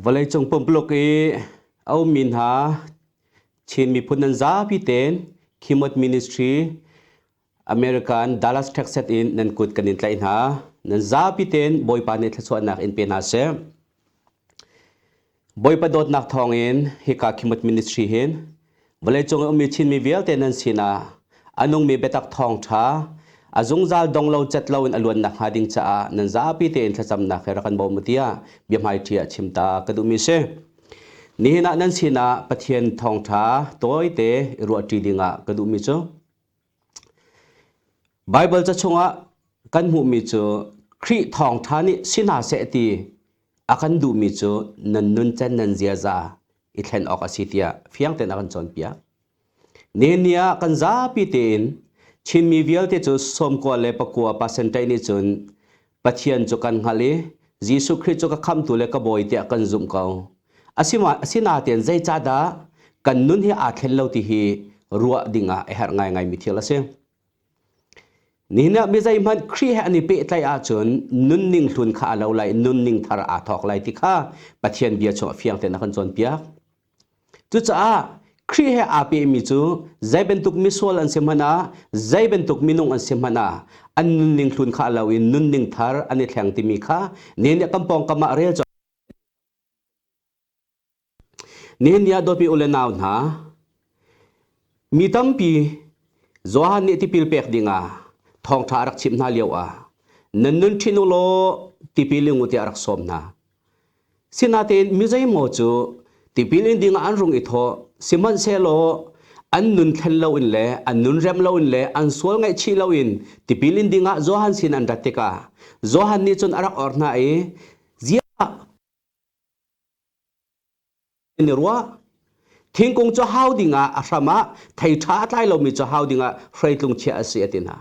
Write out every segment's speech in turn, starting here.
Vawleicung pumpuluk i a ummi hna Chin miphun nan zapi tein Khimot Ministry America in Dallas, Texas in nan kut kan in tlaih hna. Nan zapi tein Bawipa nih thluachuahnak in pe hna seh. Bawipa dawtnak thawngin hika Khimut Ministry hin vawleicung i ummi Chinmi vialte nan sinah a nungmi biatak thawng ṭha a zungzal dong lo cet loin a luan nakhnga ding caah nan zapi tein thlacamnak he rak kan bawm u tiah biahmaiṭi ah chim ta ka duhmi a si. Nihin ah nan sinah Pathian thawngṭha tawite i ruahṭi dingah ka duhmi cu Baibal ca chungah kan hmuhmi cu Khrih Thawngṭha nih si hna seh ti a kan duhmi cu nan nuncan nan ziaza i thlen awk a si tiah fiang tein a kan cawnpiak. Nihin ni ah kan zapi tein Chinmi vialte cu sawmkua le pakua percentage nih cun Pathian cu kan hngalh i Jesuh Khrih cu ka khamtu le ka bawi tiah kan zumh ko. Asinain zeicahdah kan nun hi aa thlen lo ti hi ruah dingah a herh ngaingaimi thil a si. Nihin ah mi zeihmanh Khrih he an i pehtlaih ahcun nunning hlun kha a lo lai, nunning thar aa thawk lai ti kha Pathian bia chungah fiang tein a kan cawnpiak. Cucaah Khrih he aa pehmi cu zei bantuk misual an si hmanh ah, zei bantuk minung an si hmanh ah, an nunning hlun kha a lo in nunning thar an i thleng timi kha nihin kan pawngkam ah rel cawk. Nihin ni ah dawtmi u le nau hna, Mi tampi Johan nih tipil pek dingah thawngṭha a rak chimh hna lioah nan nun ṭhin u law tipil in u tiah a rak sawm hna. Sinatein mi zeimaw cu tipil in dingah an rung i thawh, sihmanhsehlaw an nun thlen loin le an nun rem loin le an sual ngaihchih loin tipil in dingah Johan sin an rat tikah Johan nih cun a rak or hna i, “Ziah! kan i ruah thingkung cu hau dingah a hram ah thei ṭha a tlai lomi cu hau dingah hreitlung chiah a si a ti hna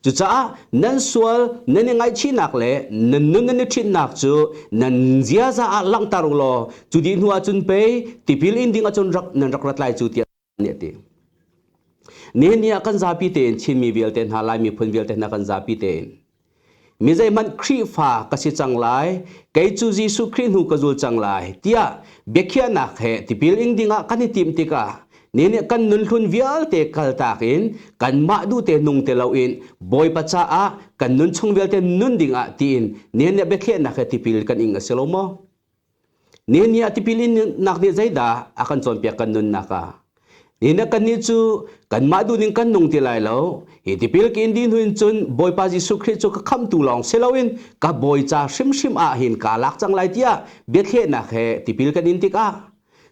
cucaah nan sual nan i ngaihchihnak le nan nun nan i ṭhinhnak cu nan ziaza ah langhter u law cu dih hnu ahcun pei tipil in ding ahcun rak nan rak ra tlai cu tiah nih a ti nihin ni ah kan zapi tein Chinmi vialte hna Lai miphun vialte hna kan zapi tein mi zeihmanh Khrihfa ka si cang lai kei cu Jesuh Khrih hnu ka zul cang lai tiah biakhiahnak he tipil ing dingah kan i tim tikah ni nih kan nunhlun vialte kaltak in kanmah duhte nung te loin Bawipa caah kan nun chung vialte nun dingah tiin ni nih biakhiahnak he tipil kan ing a si lo maw? Nihin ni ah tipil innak nih zeidah a kan cawnpiak kan nunnak ah? Nihin ah kannih cu kanmah dun in kan nung ti lai lo. Hi tipil ka in dih hnu in cun Bawipa Jesuh Khrih cu ka khamtu lawng si loin ka bawi ca hrimhrim ah hin kaa lak cang lai tiah biathlehnak he tipil kan in tikah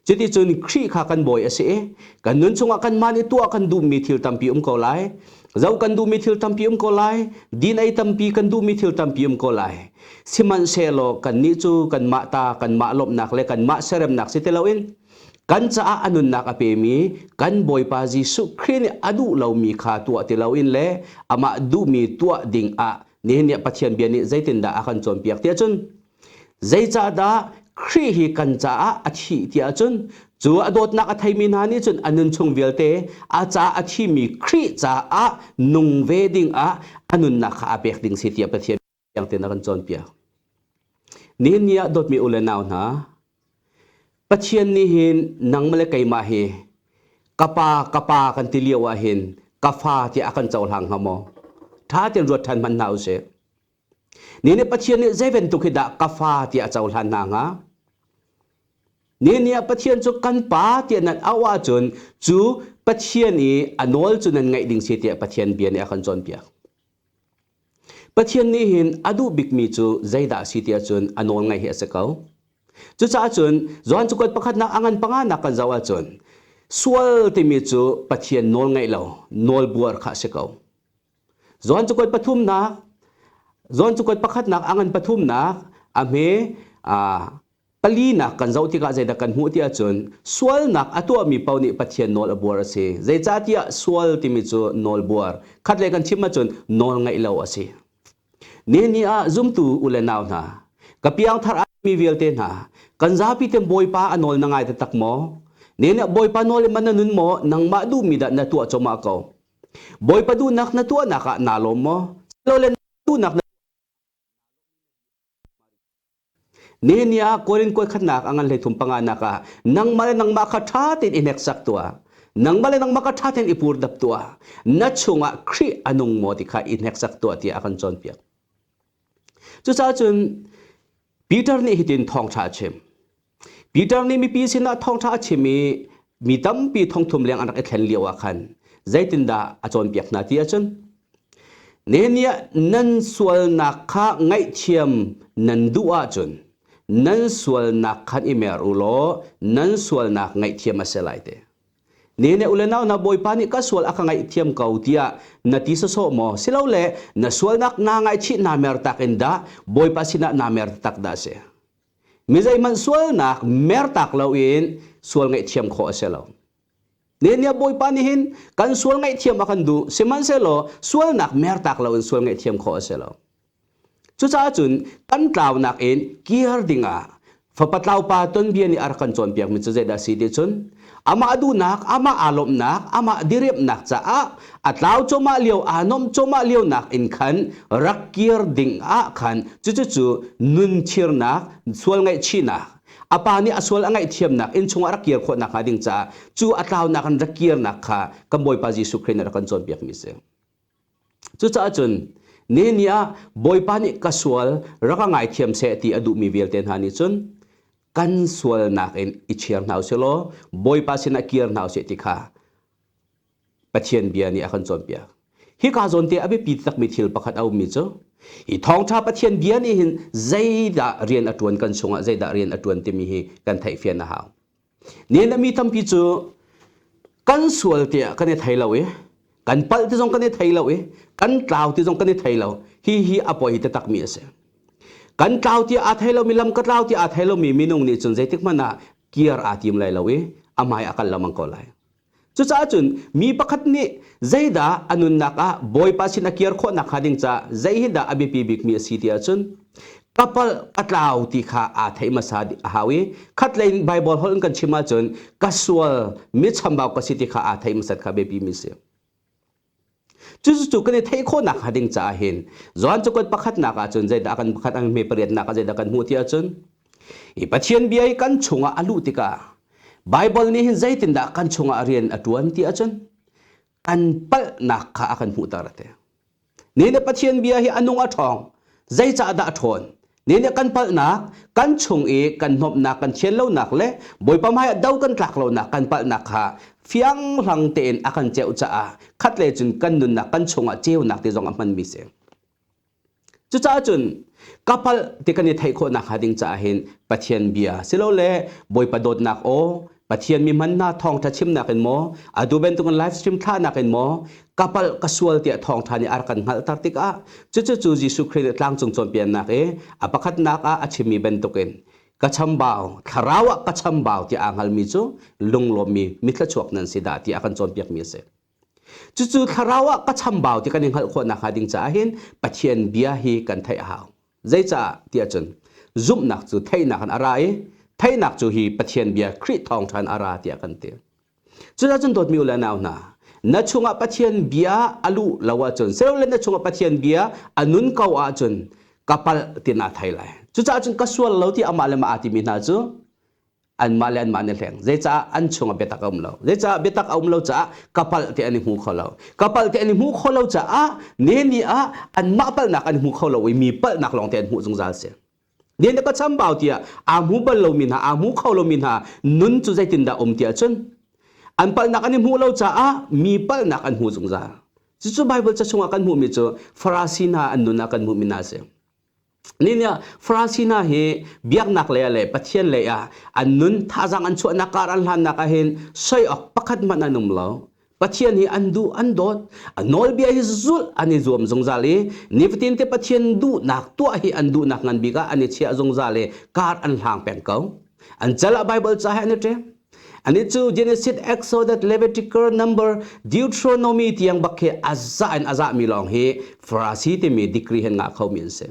Cuticun Khrih kha kan bawi a si i kan nun chungah kanmah nih tuah kan duhmi thil tampi um ko lai. Zo kan duhmi thil tampi um ko lai. Din ei tampi kan duhmi thil tampi um ko lai. Sihmanhsehlaw kannih cu kanmah ta, kanmah lawmhnak le kanmah seremnak si ti loin kan caah a nunnak a pemi kan Bawipa Jesuh Khrih nih a duh lomi kha tuah ti loin le amah duhmi tuah ding ah nihin nih Pathian bia nih zeitindah a kan cawnpiak tiah cun Zeicahdah Khrih hi kan caah a thih ti ahcun cu a dawtnak a theimi hna nih cun a nunchung vialte a ca a thimi Khrih caah nung ve dingah a nunnak kha a pek ding si tiah Pathian tiang tein a kan cawnpiak. Nihin ni ah dawtmi u le nau hna, Pathian nih hin nang le keimah hi ka pa ka pa kan ti lio ah hin ka fa tiah a kan cohlang hnga maw? Ṭha tein ruat ṭhan hman hna u sih. Ni nih Pathian nih zei bantuk hi dah ka fa tiah a cohlan hna hnga? Ni nih Pathian cu kan pa tiah nan auh ahcun cu Pathian i a nawl cu nan ngaih ding si tiah Pathian bia nih a kan cawnpiak. Pathian nih hin a duh bikmi cu zeidah a si tiah cun a nawl ngaih hi a si ko. Cucaah cun Johan cakuat pakhatnak a ngan panganak kan zoh ahcun sual timi cu Pathian nawl ngaih lo, nawl buar kha a si ko. Johan cakuat pathumnak Johan cakuat pakhatnak a ngan pathumnak a hme palinak kan zoh tikah zeidah kan hmuh ti ahcun sualnak a tuahmi paoh nih Pathian nawl a buar a si. Zeicahtiah sual timi cu nawlbuar. Khat lei kan chim ahcun nawl ngaih lo a si. Nihin ah zumtu u le nau hna, ka piangthar mi vialte hna, kan zapi ten Bawipa a nawl na ngai taktak maw? Nihin ah Bawipa nawl in man na nun maw? Nangmah duhmi dah na tuah comah ko? Bawipa duhnak na tuahnak ah naa lawm maw? Silole na duhnak na Nehemiah ah Korin kuai khatnak a ngan hlei thum panga nak ah nangmah le nangmah kha ṭha tein i hneksak tuah. Nangmah le nangmah kha ṭha tein i pur dap tuah. Na chungah Khrih a nung maw ti kha i hneksak tuah tiah a kan cawnpiak. Cucaah cun Peter nih hitin thawngṭha a chim. Peter nih mipi sinah thawngṭha a chim i mi tampi thongthum leng an rak i thlen lio ah khan zeitindah a cawnpiak hna ti ahcun Nehemiah nan sualnak kha ngaihthiam nan duh ahcun nan sualnak khan i mer u law nan sualnak ngaihthiam a si lai te. Ne ne ule nau na bawipa nih ka sual a ka ngaihthiam ko tiah na ti sawsawh maw silole na sualnak naa ngaihchih naa mer tak in dah bawipa sinah naa mer taktak dah a si? Mi zeihmanh sualnak mertak loin sual ngaihthiam khawh a si lo. Nehemiah Bawipa nih hin kan sual ngaihthiam a kan duh, sihmanhsehlaw sualnak mertak loin sual ngaihthiam khawh a si lo. Cucaah cun kan tlaunak in kir dingah fapa tlaupa tonbia nih a rak kan cawnpiakmi cu zeidah a si ti cun amah duhnak amah aa lawmhnak amah diriamhnak caah a tlau cawmah lio aa nuam cawmah lio nak in khan rak kir ding ah khan cucucu nun chirnak sual ngaihchihnak a pa nih a sual a ngaihthiamnak inn chungah rak kir khawh nakhnga ding caah cu a tlaunak in rak kirnak kha kan Bawipa Jesuh Christ nih rak kan cawnpiakmi a si. Cucaah cun neni ah Bawipa nih ka sual rak ka ngaithiam seh ti a duhmi vialte hna nih cun kan sualnak in i chiar hna u sih law Bawipa sinah kir hna u sih ti kha Pathian bia nih a kan cawnpiak. Hika zawn te a biapi takmi thil pakhat a ummi cu hi thawngṭha Pathian bia nih hin zeidah rian a ṭuan kan chungah zeidah rian a ṭuan timi hi kan theihfian a hau. nihin ah mi tampi cu kan sual te ah kan i thei lo i kan palh ti zong kan i thei lo i kan tlau ti zong kan i thei lo hi hi a poi taktak mi a si kan tlau ti aa thei lomi lam ka tlau ti aa thei lomi minung nih cun zeitik hmanh ah kir aa tim lai lo i a hmai a kal lengmang ko lai Cucaah cun mi pakhat nih zeidah a nunnak ah Bawipa sin a kir khawh nakhnga ding caah zei hi dah a biapi bikmi a si ti ahcun kapal patlau ti kha aa theih hmasa a hau i khatlei in Baibal holh in kan chim ahcun ka sual mi chambau ka si ti kha aa theih hmasat kha biapimi a si. Cucu kan i theih khawhnak hnga ding caah hin Johan cu kan pakhatnak ah cun zeidah kan pakhat ang hme pariatnak ah zeidah kan hmuh ti ahcun hi Pathian bia i kan chungah a luh tikah Baibal nih hin zeitindah kan chungah rian a ṭuan ti ahcun kan palhnak kha a kan hmuhter a ti. Ni le Pathian bia hi a nung a ṭhawng zeicahdah a ṭhawn Ni nih kan palhnak, kan chung i kan hnawmhnak kan chian lonak le Bawipa hmaiah do kan tlak lonak kan palhnak kha fiang hlang tein a kan ceuh caah khat le cun kan nunnak kan chungah ceunak ti zong a hmanmi si. Cucaah cun ka palh ti kan i theih khawh nakhnga ding caah hin Pathian bia silole Bawipa dawtnak aw Pathian mi hman na thawngtha chim nakin maw adu bantukin live stream thla nakin maw kapal ka sual tiah thawngtha nih ar kan hngalh tar tikah cucu cu Jesuh Christ nih tlangcung cawnpiannak i a pakhatnak ah a chimmi bantukin ka chambau thlarau ah ka chambau ti aa hngalmi cu lunglawmmi mithla chuak nan si dah ti a kan cawnpiakmi a si. Cucu thlarau ah ka chambau ti kan i hngalh khawh nakhnga ding caah hin Pathian bia hi kan theih a hau. Zeicah tiah cun zumhnak cu theihnak in a ra i theihnak cu hi Pathian bia Khrih thawng ṭhan a ra tiah kan ti. Cucaah cun dawtmi u le nau hna, na chungah Pathian bia a luh lo ahcun sehlaw na chungah Pathian bia a nun ko ahcun ka palh ti naa thei lai. Cucaah cun ka sual lo ti amah le mah aa timi hna cu anmah le anmah an i hleng zeicah an chung ah biatak a um lo zeicah biatak a um lo caah kapal te an i hmu kho lo kapal te an i hmu kho lo caah ne ni ah anmah palnak an hmu kho lo i mi palnak lawng te an hmuh zungzal si ne na ka chambau tiah aa hmu bal lomi hna aa hmu kho lomi hna nun cu zeitindah um tiah cun an palnak an i hmuh lo caah mi palnak an hmu zungzal cucu Bible ca chungah kan hmuhmi cu Farasi hna an nun ah kan hmuhmi hna a si Nihin ah Francina hi biaknak lei ah le Pathian lei ah an nun thazang an chuahnak kar an hlannak ah hin soi awk pakhat hmanh an um lo. Pathian hi an duh an dawt a nawlbia hi zulh an i zuam zungzal i nifatin te Pathian duhnak tuah hi an duhnak ngan bik ah an i chiah zungzal i kar an hlang peng ko. An cal ah Bible ca he an i ṭem. Ani cu Genesis Exodus Levitical number Deuteronomy tiang bak khi aza in aza mi lawng hi Farasi timi degree hin ngah kho mi an si.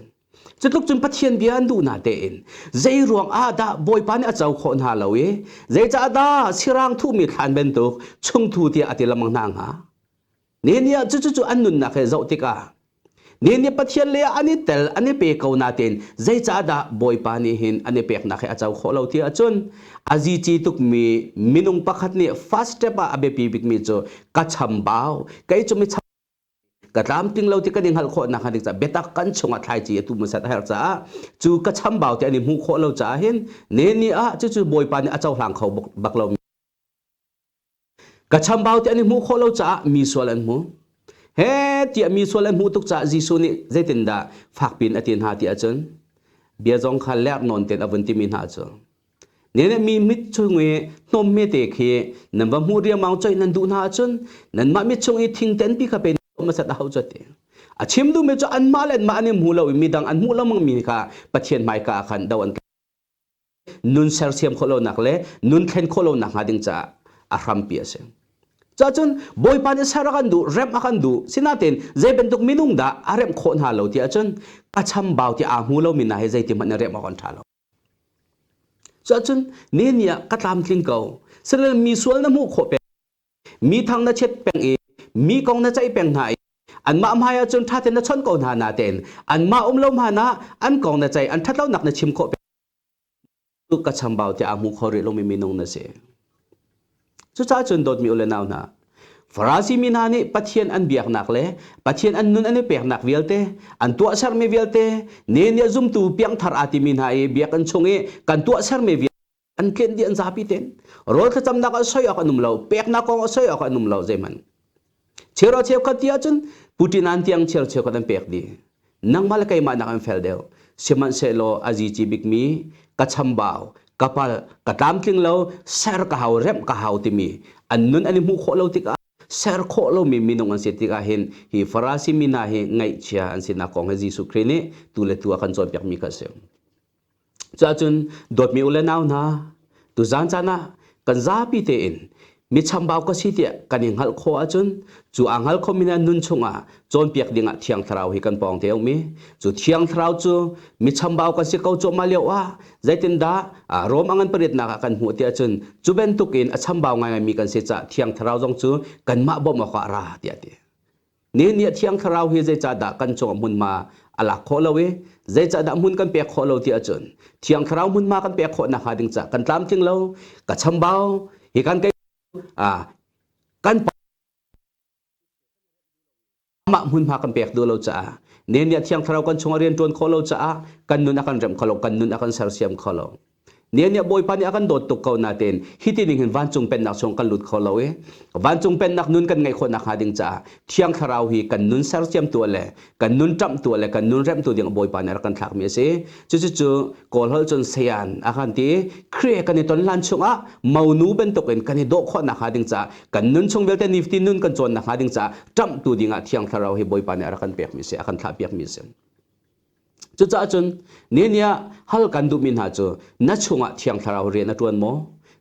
Cutluk cun Pathian bia an duh na te in zei ruang ah dah Bawipa nih a co khawh hna lo i zeicah dah sirang thuhmi thlan bantuk chungthu tiah a ti lengmang hna hnga? Nehniah cucu cu an nunnak he zoh tikah Nehniah Pathian leiah an i tel an i pe ko natein zeicahdah Bawipa nih hin an i peknak hi a co khawh lo ti ahcun a zici tukmi minung pakhat nih first step ah a biapi bikmi cu ka chambau kei cu mi ka tlamtling lo ti kan i hngalh khawh nakhnga dik caah biatak kan chungah thlaici a tu hmasat a herh caah cu ka chambau ti an i hmuh khawh lo caah hin Nehniah ah cucu Bawipa nih a cohlang kho bak lo. Ka chambau ti an i hmuh khawh lo caah mi sual an hmu. He tiah mi sual an hmuh tuk caah Jesuh nih zeitindah fakpiin a ti hna ti ahcun bia zong kha lerh nawn tein a vun timi hna cu. Ne nih mi mit chung i hnawm hmete khi nan va hmuh riangmang coih nan duh hna ahcun nanmah mit chung i thingten pi kha pe hmasat a hau cu ti. A chim duhmi cu anmah le anmah an i hmu lo i midang an hmuh lengmang mi kha Pathian hmaika ah khan do an nun sersiam khawh lonak le nun thlen khawh lonak hnga ding caah a hrampi a si. Cuahcun Bawipa nih ser a kan duh, remh a kan duh. Sinain zei bantuk minung dah a remh khawh hna lo ti ahcun ka chambau ti aa hmu lomi hna hi zeitihmanh na remh a kan ṭha lo. Cuahcun ni ni ah ka tlamtling ko. Sinain mi sual na hmuh khawh peng mi thang na chet peng i mi kong na ceih peng hna i anmah hmaiah cun ṭha tein na chawnh ko hna natein anmah um lo hmanah an kong na ceih an ṭhatlonak na chim khawh peng tu ka chambau tiah a hmu kho rih lomi minung na si cucaah cun dawtmi u le nau hna Farasi mi hna nih Pathian an biaknak le Pathian an nun an i peknak vialte an tuah sermi vialte ne nih zumtu piangthar aa timi hna i biakinn chung i kan tuah sermi vialte an tlen di an zapi ten rol thlacamnak ah soi awk an um lo peknak kong ah soi awk an um lo zeiman chero cheu khat ti ahcun Putin an tiang chero cheu khat an pek di nangmah le keimah nak an fel deuh sihmanhsehlaw azi ci bikmi ka chambau ka pal ka tlamtling lo ser ka hau rem ka hau timi an nun an i hmu khawh lo tikah ser khawh lo mi minung an si tikah hin hi farasi mina hi ngaihchia an sinak kong hi Jesuh Christ nih tu le tu a kan cawn piak mi kha si Cuahcun dawtmi u le nau hna, tuzaan caan ah kan zapi tein michambau ka si tiah kan i hngalh khawh ahcun cu aa hngal khomi nih nun chungah cawnpiak dingah Thiang Thlarau hi kan pawng te a um i cu Thiang Thlarau cu michambau kan si ko cuahmah lio ah zeitindah Rom a ngan pariatnak ah kan hmuh tiah cun cu bantukin a chambau ngaingaimi kan si caah Thiang Thlarau zong cu kanmah bawmh awkah a ra tiah a ti. Nih nih thiang thlarau hi zeicahdah kan cungah hmunhma a lak khawh lo i zeicahdah hmun kan pek khawh lo ti ahcun thiang thlarau hmunhma kan pek khawh nakhnga ding cah kan tlamtling lo ka chambau hi kan kai kan amah hmunhma kan pek duh lo caah nih nih thiang thlarau kan chungah rian ṭuan khawh lo caah kan nun a kan remh kho lo kan nun a kan sersiam kho lo Nian nih Bawipa nih a kan dawt tuk ko natein hiti ning hin vancung pennak chung kan lut kho lo i vancung pennak nun kan ngeih khawh nak hnga ding caah Thiang Thlarau hi kan nun sersiamtu le kan nun ṭamhtu le kan nun remhtu ding Bawipa nih a rak kan thlakmi a si. Cucucu Kawl holh cun sayan a kan ti. Khrih kan i ton hlan chungah monu bantukin kan i dawh khawh nak hnga ding caah kan nun chung vialte niftin nun kan cawn nak hnga ding caah ṭamhtu dingah Thiang Thlarau hi Bawipa nih a rak kan pekmi a si, a kan thlahpiakmi a si. Cucaah cun niah hal kan duhmi hna cu na chungah Thiang Thlarau rian a ṭuan maw?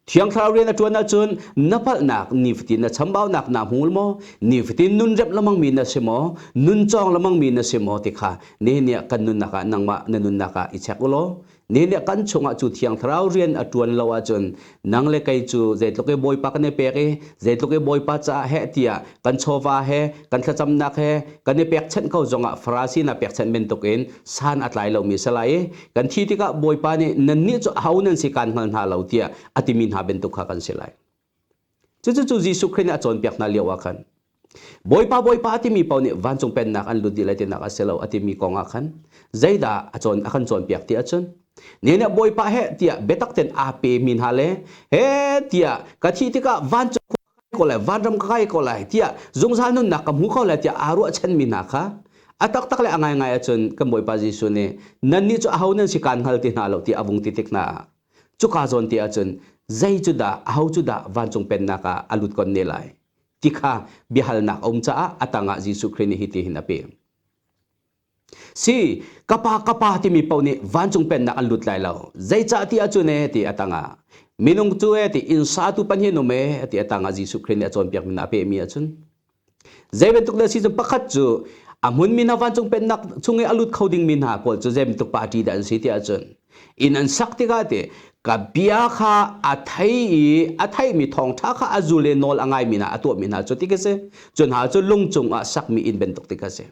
Thiang Thlarau rian a ṭuan ahcun na palhnak nifatin na chambaunak na hmul maw? Nifatin nun remh lemangmi na si maw? Nun cawng lemangmi na si maw? ti kha nihin ni ah kan nunnak ah nangmah na nunnak ah i chek u law ni le kan chungah cu thiang thlarau rian a tuan lo ahcun nang le kei cu zeitluk i bawipa kan i pek i zeitluk i bawipa caah heh tiah kan chawva he kan thlacamnak he kan i pekchanh ko zongah farasi na pekchanh bantukin san a tlai lomi a si lai i kan thi tikah bawipa nih nannih cu aho nan si kaan hngal hna lo tiah a timi hna bantuk kha kan si lai Cucu Jesuh Khrih nih a cawnpiak hna lio ah khan Bawipa Bawipa a timi paoh nih vancung pennak an lut dih lai tinak a si lo a timi kong ah khan zeidah a cawn a kan cawnpiak ti ahcun ne nih Bawipa he tiah biatak ten aa pe mi hna le he tiah ka thih tikah vancung ka kai ko lai vanram ka kai ko lai tiah zungzal nunnak ka hmu ko lai tiah aa ruahchan mi hna kha a taktak le a ngaingai ahcun kan Bawipa Jesuh nih nannih cu aho nan si kaan hngal ti hna lo ti a vung ti tik hna cuka zawn te ahcun zei cu dah aho cu dah vancung pennak ah a lut kon ne lai ti kha biahalnak a um caah a tangah Jesuh Khrih nih hiti hin a pe si ka pa ka pa timi paoh nih vancung pennak an lut lai lo zeicah ti ahcun e ti a tangah minung cu e ti inn satu pan hin um e ti a tangah Jesuh Khrih nih a cawnpiakmi a pehmi ahcun Zei bantuk le season pakhat cu a hmunmi hna vancung pennak chung i a lut kho dingmi hna kawl cu zei bantuk party dah an si tiah cun inn an sak tikah ti ka bia kha a thei i a theimi thawngṭha kha a zul i nawl a ngaimi hna a tuahmi hna cu ti ka si. Cu hna cu lung cungah sakmi inn bantuk ti ka si.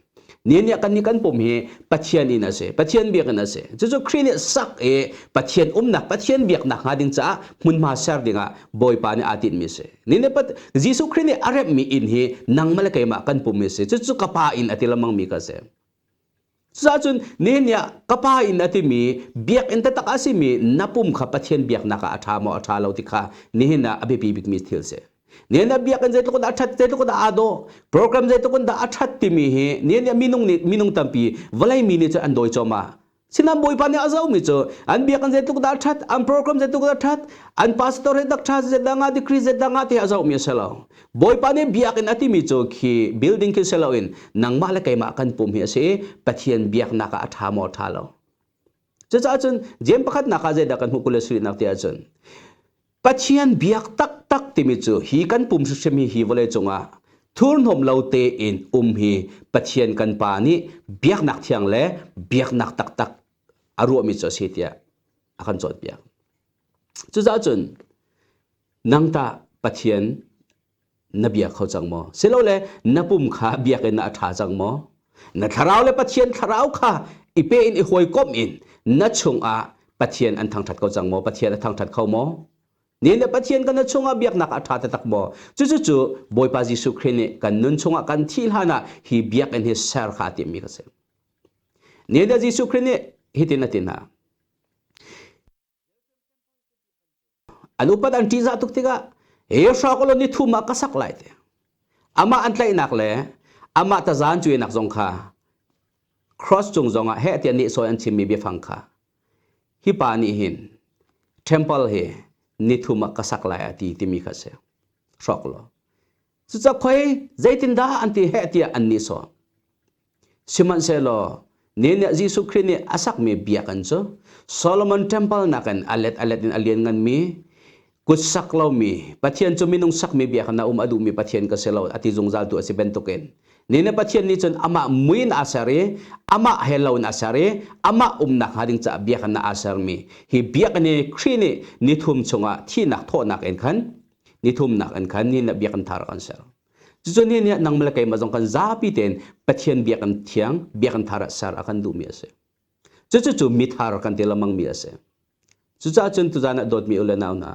Ni nih kan ni kan pum hi Pathian in a si, Pathian biak in a si. Cucu Khrih nih sak i Pathian umnak, Pathian biaknak hnga ding caah hmunhma ser dingah Bawipa nih aa tinhmi a si. Ni nih Jesuh Khrih nih a remhmi inn hi nangmah le keimah kan pum a si. Cucu ka Pa inn a ti lengmangmi ka si. Cucahcun ni nih ka Pa inn a timi biakinn taktak a simi na pum kha Pathian biaknak ah a ṭha maw a ṭha lo ti kha nihin ah a biapi bikmi thil a si. Nian nih biak in zeitluk dah a ṭhat zeitluk dah aa dawh program zeitluk dah a ṭhat timi hi nian nih minung nih minung tampi vawlei mi nih cun an dawi cuahmah sinam bawipa nih a zomi cu an biakinn zeitluk dah a ṭhat an program zeitluk dah a ṭhat an pastor hi dak ṭha zedah nga degree zedah nga ti hi a zohmi a si lo bawipa nih biakinn a timi cu khi building khi si loin nangmah le keimah kan pum hi a si i pathian biaknak ah a ṭha maw ṭha lo Cucaah cun Jeim pakhatnak ah zeidah kan hmuh kul le sarihnak ti ahcun Pathian biak taktak timi cu hi kan pum hrimhrim hi hi vawlei cungah thurhnawm lo tein um hi Pathian kan Pa nih biaknak thiang le biaknak taktak a ruahmi cu a si tiah a kan cawnpiak. Cucaah cun nang tah Pathian na bia kho cang maw silole na pum kha biakinn ah a ṭha cang maw na thlarau le pathian thlarau kha i pe in i hawikom in na chungah pathian an thangṭhat ko cang maw pathian a thangṭhat kho maw ni le pathian kan na chungah biaknak a ṭha taktak maw cucu bawipa jesuh khrih nih kan nun chungah kan thih hlanah hi biakinn hi ser kha a timmi ka si ni le jesuh khrih nih hitin a ti hna An upat an ṭihzah tuk tikah hi hrawk aw law ni thum ah ka sak lai ti amah an tlaihnak le amah tazan cuinak zong kha cross cung zongah heh tiah nehsawh in an chimmi biafang kha hi pa nih hin temple hi ni thum ah ka sak lai a ti timi kha a si hrawk law Cucakhoi zeitindah an ti heh tiah an nihsawh. Sihmanhsehlaw ni nih Jesuh Khrih nih a sakmi biakinn cu Solomon Temple nakin a let a let in a liannganmi, kutsak lomi, Pathian cu minung sakmi biakinn ah um a duhmi Pathian ka si lo a ti zungzaltu a si bantukin ni nih Pathian nih cun amah mui in aa ser i amah he lo in aa ser i amah umnak hnga ding caah biakinn ah aa sermi hi biakinn hi Khrih nih ni thum chungah thihnak thawhnak in khan nithumnak in khan ni le biakinn thar kan ser cucu ni nih nangmah le keimah zong kan zapi tein Pathian biakinn thiang biakinn thar ah ser a kan duhmi a si cucu cu mithar kan ti lengmangmi a si cucaah cun tuzan ah dawtmi u le nau hna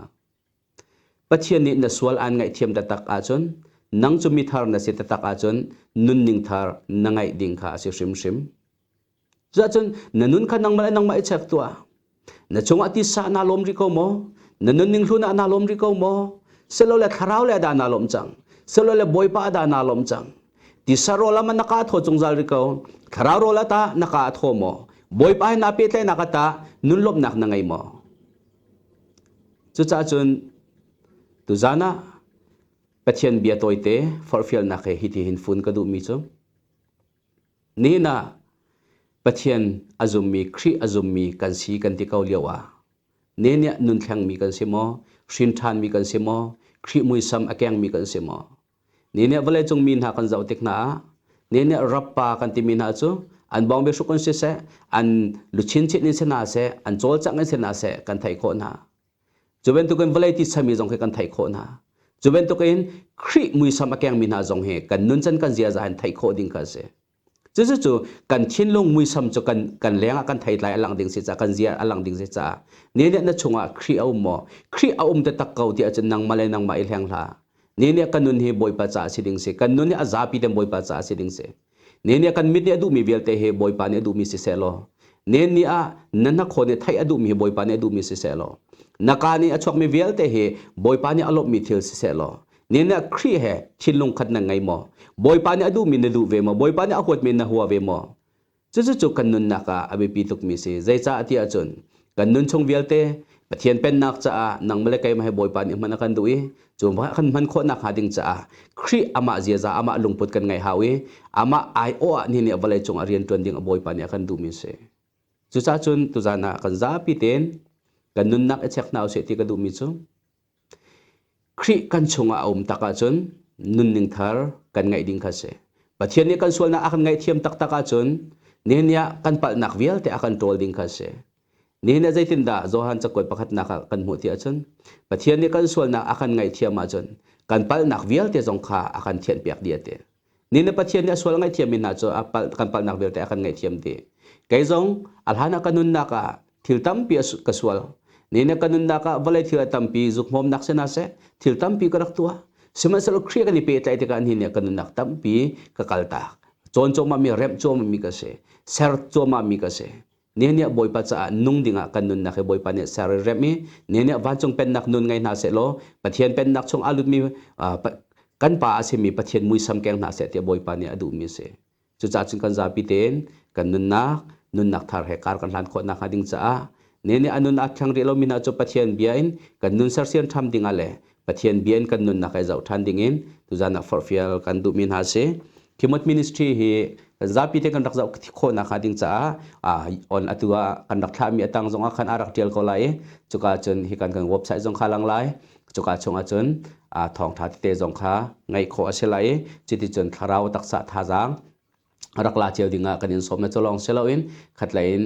Pathian nih na sual aan ngaihthiam taktak ahcun nang cu mithar na si taktak ahcun nunning thar na ngaih ding kha a si hrimhrim Cuahcun na nun kha nangmah le nangmah i chek tuah. Na cungah tisa naa lawm rih ko maw? Na nunning hlun ah naa lawm rih ko maw? Silole thlarau le dah naa lawm cang? Silole Bawipa ah dah naa lawm cang? Tisa rawl ah man na ka thaw zungzal rih ko. Thlarau rawl ah tah na ka thaw maw? Bawipa he naa pehtlaihnak ah tah nunlawmhnak na ngei maw? Cucah cun tuzan ah Pathian bia tawite forhfialnak he hiti hin fun ka duhmi cu, Nihin ah Pathian a zummi Khrih a zummi kan si kan ti ko lio ah ne nih nun thlengmi kan si maw hrin ṭhanmi kan si maw Khrih muisam a kengmi kan si maw ne nih vawleicung mi hna kan zoh tik hna ah ne nih rappa kan timi hna cu an bawng biahruk in siseh an luchin chin in si hna seh an cawlcangh in si hna seh kan theih khawh hna. Cu bantukin vawlei titsami zong khi kan theih khawh hna. Cu bantukin Khrih muisam a kengmi hna zong hi kan nun can kan ziaza in theih khawh ding kha a si. Cucu kan thinlung muisam cu kan, kan lengah kan theitlai a lang ding si caah kan zia a lang ding si caah ni nih na chungah Khrih a um maw? Khrih a um te tak ko ti ahcun nangmah le nangmah i hleng hlah. Ni nih kan nun hi Bawipa caah a si ding si. Kan nun hi a zapi ten Bawipa caah a si ding si. nen nih kan mit nih a duhmi vialte hi Bawipa nih a duhmi sisehlaw nen nih ah na hnakhaw nih theih a duhmi hi Bawipa nih a duhmi sisehlaw na ka nih a chuakmi vialte hi Bawipa nih a lawmhmi thil sisehlaw nen nih Khrih he thinlung khat na ngei maw Bawipa nih a duhmi na duh ve maw Bawipa nih a huatmi na hua ve maw cucu cu kan nunnak ah a biapi tukmi si zeicah tiah cun kan nun chung vialte Pathian pennak caah nangmah le keimah he Bawipa nih hman a kan duh i cu kan hman khawh nakhnga ding caah Khrih amah ziaza amah lungput kan ngei hau i amah aiawh ah nihin nih vawlei cungah rian ṭuan ding a Bawipa nih a kan duhmi a si. Cucacun tuzan ah kan zapi tein kan nunnak i chek hna usih ti ka duhmi cu Khrih kan chungah a um tak ahcun nunning thar kan ngeih ding kha si. Pathian nih kan sualnak a kan ngaihthiam taktak ahcun nihin ni ah kan palhnak vialte a kan ṭawl ding kha si. Nihin ah zeitindah Johan cakuat pakhatnak ah kan hmuh ti ahcun Pathian nih kan sualnak a kan ngaihthiam ahcun kan palhnak vialte zong kha a kan thianpiak dih a ti. Nin le Pathian nih a sual ngaihthiammi hna cu kan palhnak vialte a kan ngaihthiam dih. Kei zong a hlan ah ka nunnak ah thil tampi ka sual. Nin le ka nunnak ah vawlei thil a tampi zukhmawmnak si hna seh, thil tampi ka rak tuah. Sihmanhsehlaw Khrih kan i pehtlaih tikah nihin nih ka nunnak tampi ka kaltak. Cawn cuahmahmi, remh cuahmahmi ka si. Ser cuahmahmi ka si. Nehniah Bawipa caah nung dingah kan nunnak hi Bawipa nih ser i remh i nehniah vancung pennak nun ngei hna seh law Pathian pennak chung aa lutmi kan pa a simi Pathian muisam keng hna seh tiah Bawipa nih a duhmi a si. Cucaah cun kan zapi tein kan nunnak nunnak thar he kar kan hlan khawh nakhnga ding caah nehniah a nun aa thleng rih lomi hna cu Pathian bia in kan nun sersiam ṭham dingah le Pathian bia in kan nunnak ai zoh ṭhan ding in tuzan ah forhfial kan duhmi hna si. Khimot Ministry hi zapi te kan rak zoh khawh nak hnga ding caah on atu ah kan rak thlah mi atang zong ah khan a rak ṭial ko lai i cuka cun hi kan kan website zong kha lang lai cuka chungah cun thawngṭha tete zong kha ngaih khawh a si lai i cuti cun thlarau taksa thazaang rak la cio ding ah kan in sawm e cu lawng si lo in khatlei in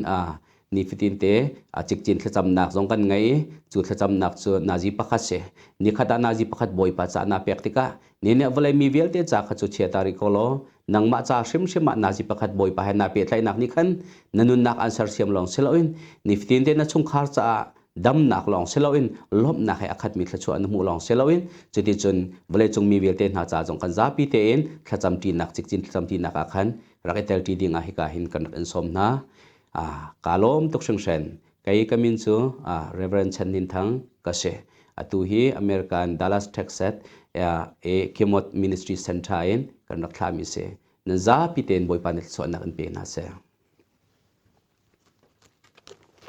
nifatin te cikcin thlacamnak zong kan ngei i cu thlacamnak cu nazi pakhat si nikhat ah nazi pakhat bawipa ca na pek tikah ni nih vawlei mi vialte ca kha cu chia ta rih ko law nangmah ca hrimhrim ah nazi pakhat bawipa he naa pehtlaihnak nih khan na nunnak an sersiam lawng si lo in nifatin te na chungkhar caah damnak lawng si loin lawmhnak he a khatmi thluachuah na hmuh lawng si loin cuticun vawleicung mi vialte hna ca zong kan zapi tein thlacamṭinak cikcin thlacamṭinak ah khan rak i telṭi ding ah hika hin kan rak in sawm hna kaa lawm tuk hringhran kei ka min cu Reverend Chan Nin Thang ka si atu hi American Dallas Texas Kimot Ministry Center in kan rak thlami si nan zapi tein Bawipa nih thluachuahnak in pe hna seh